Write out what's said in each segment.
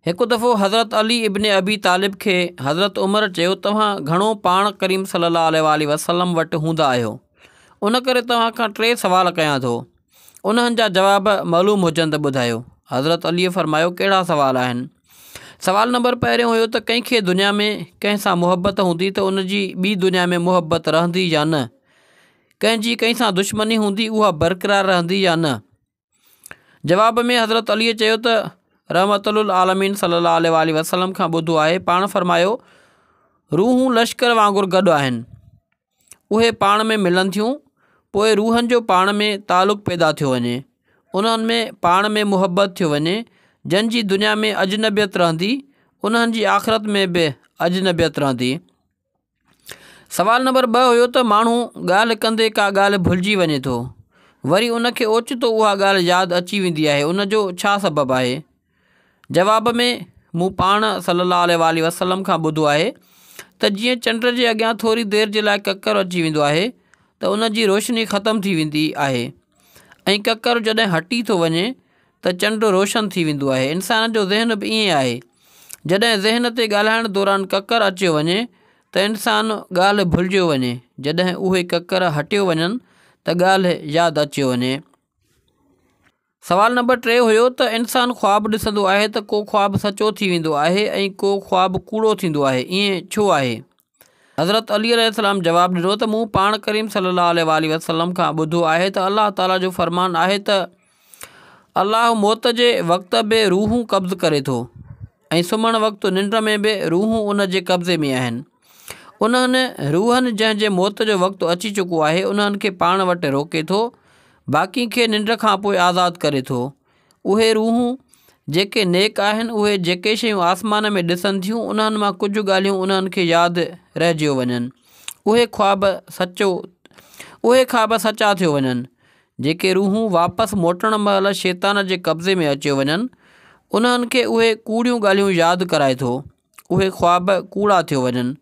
هڪ دفعو حضرت علي ابن ابي طالب کي حضرت عمر چيو توهان گهڻو پاڻ ڪريم صلي الله عليه وآله وسلم وٽ هوندا آهيو ان ڪري توهان کان ٽي سوال ڪيان ٿو انهن جا جواب معلوم هجن ته ٻڌايو حضرت عليء فرمايو ڪهڙا سوال آهن سوال نمبر پهريون هيو ته ڪنهن کي دنيا ۾ ڪنهن سان محبت هوندي ته ان جي ٻي دنيا ۾ محبت رهندي يا نه ڪنهن جي ڪنهن سان دشمني هوندي اها برقرار رهندي يا نه جواب ۾ حضرت علي چيو ته رحمت العالمين صلي الله عليه وآله وسلم کان ٻڌو آهي پاڻ فرمايو روحون لشڪر وانگر گڏ آهن اهي پاڻ ۾ ملن ٿيون پوء روحن جو پاڻ ۾ تعلق پيدا ٿيو وڃي انهن ۾ پاڻ ۾ محبت ٿيو وڃي جن جي دنيا ۾ اجنبيت رهندي انهن جي آخرت ۾ به اجنبيت رهندي سوال نمبر ٻه هيو ته ماڻهو ڳالهه ڪندي ڪا ڳالهه ڀلجي وڃي ٿو وري ان کي اوچتو اها ڳالهه ياد اچي ويندي آهي ان جو ڇا سبب آهي؟ جواب ۾، مون پاڻ صلي الله عليه واٰله وسلم کان ٻڌو آهي ته جيئن چنڊ جي اڳيان ٿوري دير جي لاء ڪڪر اچي ويندو آهي ته ان جي روشني ختم ٿي ويندي آهي ۽ ڪڪر جڏهن هٽي ٿو وڃي ته چنڊ روشن ٿي ويندو آهي. انسان جو ذهن به ائين آهي. جڏهن ذهن تي ڳالهائڻ دوران ڪڪر اچيو وڃي ته انسان ڳالهه ڀلجيو وڃي، جڏهن اهي ڪڪر هٽيو وڃن ته ڳالهه ياد اچيو وڃي. سوال نمبر ٽي هيو ته انسان خواب ڏسندو آهي ته ڪو خواب سچو ٿي ويندو آهي ۽ ڪو خواب ڪوڙو ٿيندو آهي، ائين ڇو آهي؟ حضرت علي عليه السلام جواب ڏنو ته مون پاڻ ڪريم صلي الله عليه واٰله وسلم کان ٻڌو آهي ته الله تعاليٰ جو فرمان آهي ته الله موت جي وقت به روحون قبض ڪري ٿو ۽ سمهڻ وقت ننڊ ۾ به روحون ان جي قبضي ۾ آهن انهن روحن جنهن جي موت جو وقت اچي چڪو آهي انهن کي پاڻ وٽ روڪي ٿو باقين کي ننڊ کان پوء آزاد ڪري ٿو اهي روحون، جيڪي نيڪ آهن، اهي جيڪي شيون آسمان ۾ ڏسن ٿيون، انهن مان ڪجهه ڳالهيون انهن کي ياد رهجيو وڃن. اهي خواب سچو، اهي خواب سچا ٿيو وڃن. جيڪي روحون واپس موٽڻ مهل شيطان جي قبضي ۾ اچيو وڃن، انهن کي اهي ڪوڙيون ڳالهيون ياد ڪرائي ٿو. اهي خواب ڪوڙا ٿيو وڃن.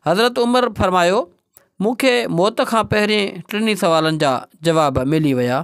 حضرت عمر فرمايو، مون کي موت کان پهرين ٽنهي سوالن جا جواب ملي ويا.